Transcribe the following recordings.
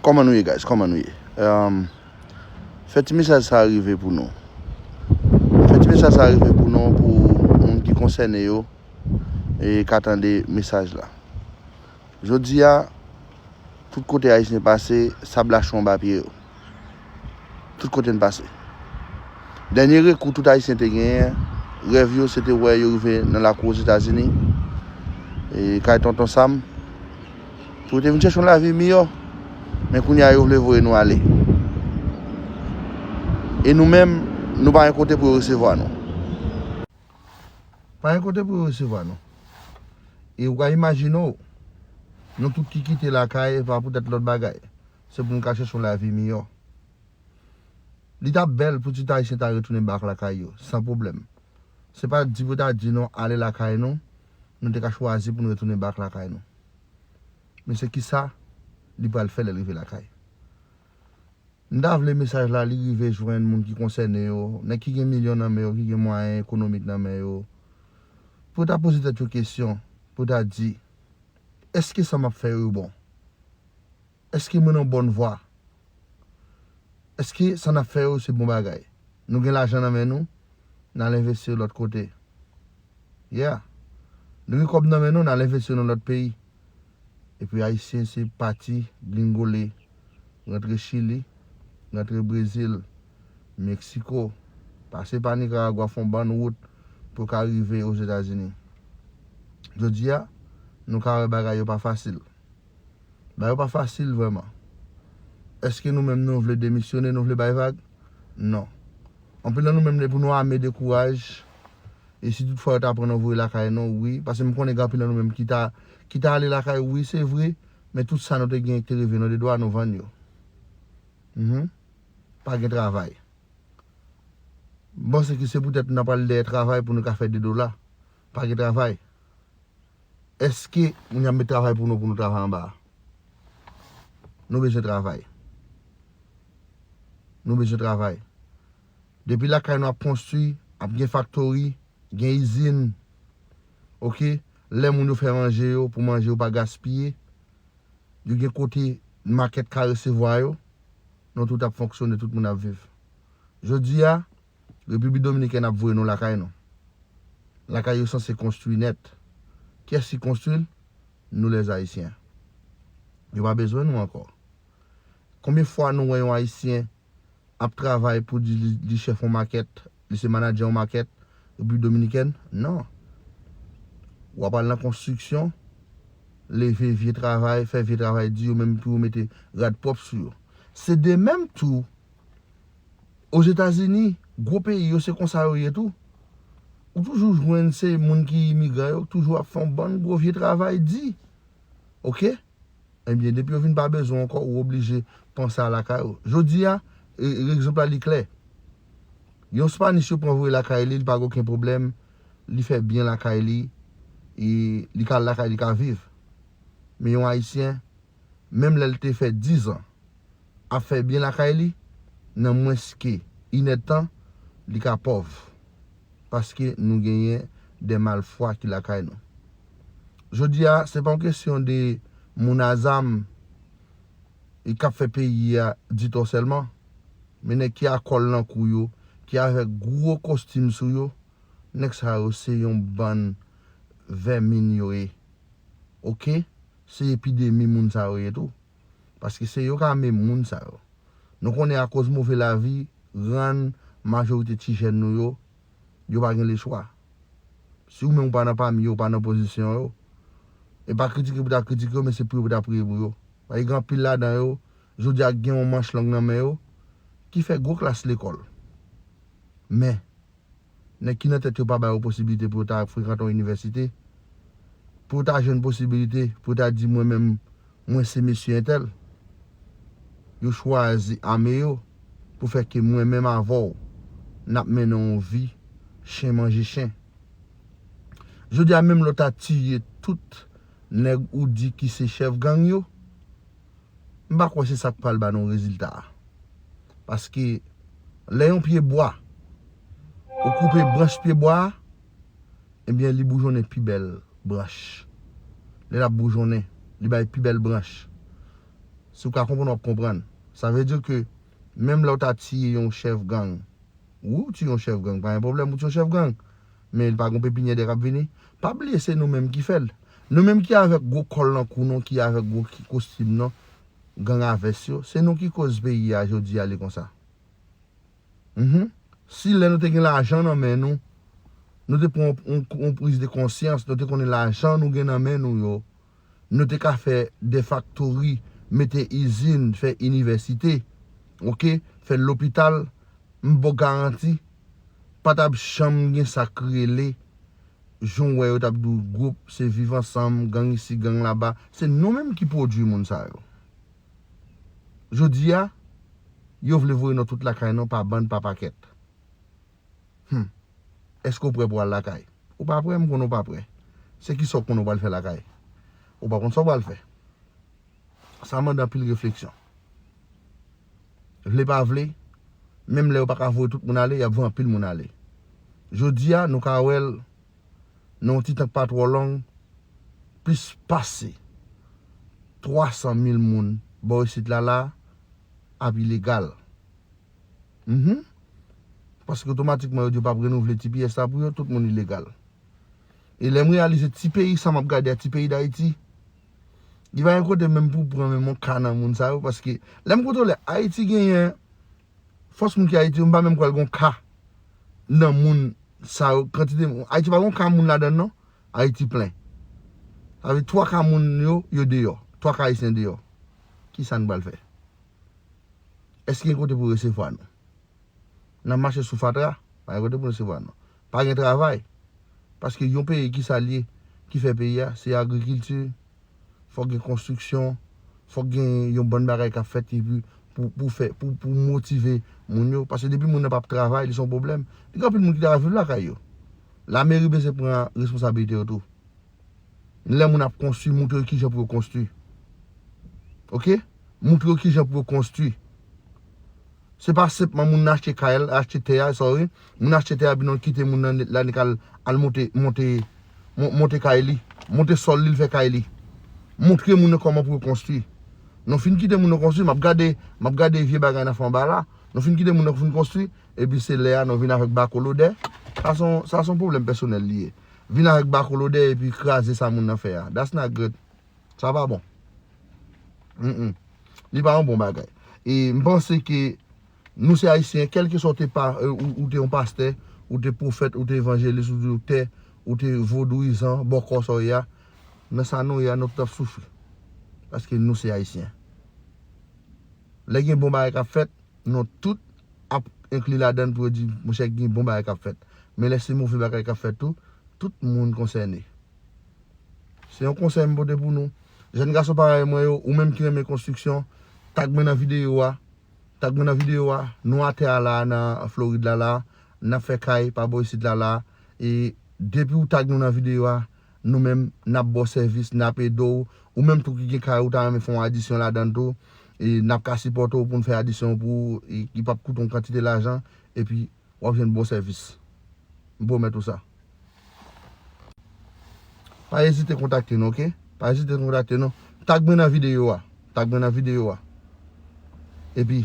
Kòman nou ye guys kòman nou ye Fè ti mesaj sa rive pou nou Fè ti mesaj sa rive pou nou pou moun ki konsène yo e ka tande mesaj la Jodi a tout kote ayisyen pase sab la chonbe a pye yo. tout kote n pase. Dènye rekou tout Ayisyen te genyen, rèv yo se te wè yo rive nan lakou Ozetazini, kay Tonton Sam, pou yo te vin chèche yon lavi miyò. Men kounye a yo vle voye nou ale. E nou menm, nou pa gen kote pou yo resevwa nou. Pa gen kote pou yo resevwa nou. E ou ka imajine w, nou tout ki kite lakay, e pa poutèt lòt bagay. se pou nou ka chèche yon lavi miyò. Li t ap bèl pou tout Ayisyen ta retounen bak lakay yo, san pwoblèm. Se pa di pou yo ta di nou ale lakay nou, nou te ka chwazi pou nou retounen bak lakay nou. Men se kisa li pral fè lè l rive lakay. M ta vle mesaj la li rive jwenn moun ki konsène yo, nèg ki gen milyon nan men yo, ki gen mwayen ekonomik nan men yo, pou yo ta poze tèt yo kesyon, pou yo ta di, Èske sa m ap fè yo yo bon? Eske mwen nan bòn vwa? Eske sa n ap fè yo se bon bagay? Nou gen lajan nan men nou, n al envesti l lòt kote. Yeah! Nou gen kòb nan men nou, n al envesti yo nan lòt peyi. Epi Ayisyen se pati gringole, rantre Chili, rantre Brezil, Meksiko, pase pa Nikaragwa fon bann wout pou yo ka rive Ozetazini. Jodi a, nou ka wè bagay yo pa fasil. Ba yo pa fasil vrèman. Eske nou menm nou vle demisyone, nou vle bay vag? Non. Anpil nan nou menm lè pou nou ame de kouraj e si tout fwa yo ta pran nou voye lakay nou wi, pase m konnen gen anpil nan nou menm ki ta ki ta ale lakay wi se vre, men tout sa nou te genyen ki te reve nou de dwa nou vann yo. Mph. Pa gen travay. M panse ke se poutèt nan pral dèyè travay pou nou ka fè de dola. Pa gen travay. Eske moun yo ap met travay pou nou pou nou travay anba a? Nou bezwen travay. Nou bezwen travay. Depi lakay nou ap konstwi, ap gen faktori, gen izin, ok, lè moun yo fè manje yo pou manje yo pa gaspiye, yo gen kote makèt ka resevwa yo, nou tout ap fonksyone, tout moun ap viv. Jodi a, Repiblik Dominikèn ap voye nou lakay nou. Lakay yo sanse konstwi nèt. Kyès ki konstwi l? Nou lè Ayisyen. Yo pa bezwen nou ankò. Konbyen fwa nou wè yon Ayisyen ap travay pou di li chèf yon makèt, li se manadjè yon makèt Repiblik Dominikèn? Non. W ap al nan konstriksyon, leve vye travay, fè vye travay di yo menm pou yo mete rad pwòp sou yo. Se de menm tou Ozetazini, gwo peyi yo se konsa yo ye tou. Ou toujou jwenn se moun ki imigran yo ki toujou ap fè yon bann gwo vye travay di. Ok? Ebyen, depi yo vin pa bezwen w ankò, ou oblije panse a lakay ou. Jodi a, egzanp la li klè. Yon Spanis yo pran voye lakay li, li pa gen okenn pwoblèm, li fè byen lakay li, li ka al lakay li ka viv. Men yon Ayisyen. menm lè l te fè dizan ap fè byen lakay li, nan mwens ke inèdtan, li ka pòv, paske nou genyen dè malfwa ki lakay nou. Jodi a, se pa yon kesyon de moun a zam e k ap fè peyi a ditò sèlman, men nèg ki a kòl nan kou yo, ki avèk gwo kostim sou yo, nèg sa yo se yon bann vèmin yo ye. Ok! se epidemi moun sa yo ye tou. Paske se yo k ame moun sa yo. Nou konnen akoz move lavi rann majorite ti jèn nou yo, yo pa gen lechwa. Si ou menm ou pa nan pami yo, ou pa nan pozisyon yo, e pa kritike pou ta kritike yo men se priye pou ta priye pou yo. Paske gen anpil ladan yo Jodi a gen yon manch lang nan men yo ki fè gwo klas lekòl. Men, nèg ki nan tèt yo pa ba yo posibilite pou yo ta frekante yon inivèsite, pou yo ta jwenn posibilite pou yo ta di mwen menm mwen se mesye entèl. Yo chwazi ame yo pou fè ke mwen menm avè w n ap mennen yon vi chen manje chen. Jodi a menm lè w ta tiye tout nèg ou di ki se chèf gang yo, m pa kwè se sa k pral ba nou rezilta a. Paske, lè yon pye bwa, ou koupe branch pye bwa a, ebyen li boujonnen pi bèl branch. Lè l ap boujonnen, li bay pi bèl branch. Si w ka konprann, w ap konprann. Sa vle di ke menm lè w ta tiye yon chèf gang, wi w tiye yon chèf gang, pa gen pwoblèm ou tiye yon chèf gang, men li pa gon pepinyè dè kap vini pa bliye se nou menm ki fèl nou menm ki avèk gwo kòl nan kou nou ki avèk gwo kostim nan gang a vès yo se nou ki koz peyi a jodi a li konsa humm si lè nou te gen lajan nan men nou nou te pran yon priz de konsyans nou te konnen lajan nou gen nan men nou yo nou te ka fè de faktori, mete izin, fè inivèsite, ok, fè lopital, m ba w garanti, pa t ap janm gen sa k rele, jan w wè yo t ap di w gwoup, se viv ansanm, gang isi, gang laba, se nou menm ki pwodui moun sa yo. Jodi a, yo vle voye nou tout lakay nou pa bann, pa pakèt. Humm. Eske w prè pou w al lakay? Ou pa prè, m konnen w pa prè. Se kisa w konnen w pral fè lakay? Ou pa konn sa w pral fè. Sa mande anpil refleksyon. Vle pa vle, menm lè yo pa ka voye tout moun ale, y ap voye anpil moun ale. Jodi a, nou ka wè l nan yon ti tan k pa twò long, plis pase 300 mil moun bò isit la la ap ilegal. Mph paske otomatikman yo di yo pap renouvle tps la pou yo tout moun ilegal e lèm reyalize ti peyi sa map gade a ti peyi dayiti li pa gen kote menm pou pran menm yon ka nan moun sa yo paske lèm kontwole ayiti genyen fòs moun ki ayiti yo mpa menm kwè gon ka nan moun sa yo kantite moun ayiti pa gon ka moun ladann non ayiti plen sa vle di twa ka moun yo yo deyò twa ka ayisyen deyò kisa'n pral fè Èske gen kote pou resevwa nou? N ap mache sou fatra, pa gen kote pou resevwa nou. Pa gen travay, paske yon peyi ki sa l ye ki fè peyi a? Se agrikilti, fòk gen konstriksyon, fòk gen yon bann bagay k ap fèt epi pou fè, pou motive moun yo. Paske depi moun nan p ap travay, li se yon pwoblèm. Li gen anpil moun ki ta viv lakay yo. Lameri bezwen pran responsabilite yo tou. Lè moun ap konstwi, montre yo ki jan pou yo konstwi. Ok? Moutre yo kijan pou yo konstwi. Se pa senpman moun nan achte kay la, achte tè a, sorry, moun nan achte tè a epi nan kite moun nan la li ka al monte, monte, monte kay li, monte sòl li, li fè kay li. Moutre moun nan kòman pou yo konstwi. Nou fin kite moun nan konstwi, m ap gade, m ap gade vye bagay nan fè anba la. Nou fin kite moun nan fin konstwi, epi se lè a nou vin avèk bako lodè. Sa se yon, sa se yon pwoblèm pèsonèl li ye. Vin avèk bako lodè epi kraze sa moun nan fè a. That's not good. Sa pa bon. Li pa yon bon bagay. E m panse ke nou se Ayisyen, kelke sa ou te pa, ou te yon pastè, ou te pwofèt, ou te evanjelis, ou te doktè, ou te vodouyizan, bòkò sa ou ye a, nan sa nou ye a nou tout ap soufri. Paske nou se Ayisyen. Lè gen bon bagay k ap fèt, nou tout ap enkli ladann pou yo di, monchè gen bon bagay k ap fèt. Men lè se move bagay k ap fèt tou, tout moun konsène. Se yon konsèy m pote pou nou. Jèn gason parèy mwen yo, ou menm ki renmen konstriksyon, tag mwen nan videyo a. Tag mwen nan videyo a. Nou atè a la a nan Florid la la a. N ap fè kay pa bò isit la la a. E depi ou tag nou nan videyo a, nou menm n ap ba w sèvis, n ap ede w. Ou menm tou ki gen kay ou ta renmen fè yon adisyon ladan l tou, n ap ka sipòte w pou n fè adisyon an pou ou ki pap koute yon kantite lajan. Epi wap jwenn bon sèvis. M pwomèt ou sa. Pa ezite kontakte nou ok. Pa ezite kontakte nou. Tag mwen nan videyo a. Tag mwen nan videyo a. Epi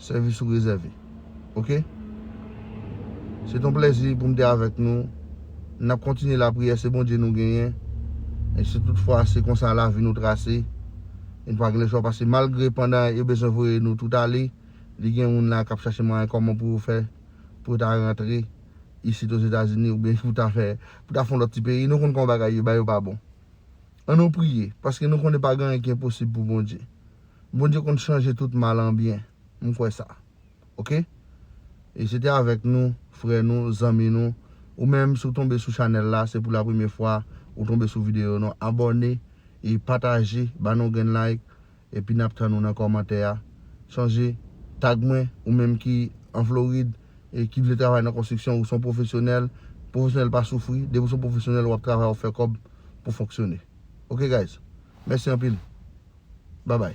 sèvis ou rezève. Ok. Se ton plèzi pou m te avèk nou. N ap kontinye lapriyè se Bondye nou genyen. E si tout fwa se konsa lavi nou trase. E n pa gen lechwa pase malgre pandan yo bezwen voye nou tout ale. li gen moun la k ap chache mwayen kòman pou yo fè pou yo ta rantre isit Ozetazini oubyen pou ta fè pou ta fon lòt ti peyi nou konn kòman bagay ye ba yo pa bon an nou priye paske nou konnen pa gen anyen ki enposib pou Bondye Bondye konn chanje tout mal an byen m kwè sa ok e se te avèk nou frè nou zanmi nou ou menm si w tonbe sou chanèl la se pou la premye fwa ou tonbe sou videyo nou abòne e pataje ba nou yon grenn like. epi nap tann ou nan kòmantè a chonje tag mwen ou menm ki an Florid e ki vle travay nan konstriksyon ou son pwofesyonèl pwofesyonèl pa soufri depi ou son pwofesyonèl wap travay wap fè kòb pou fonksyone ok guys mèsi anpil babay.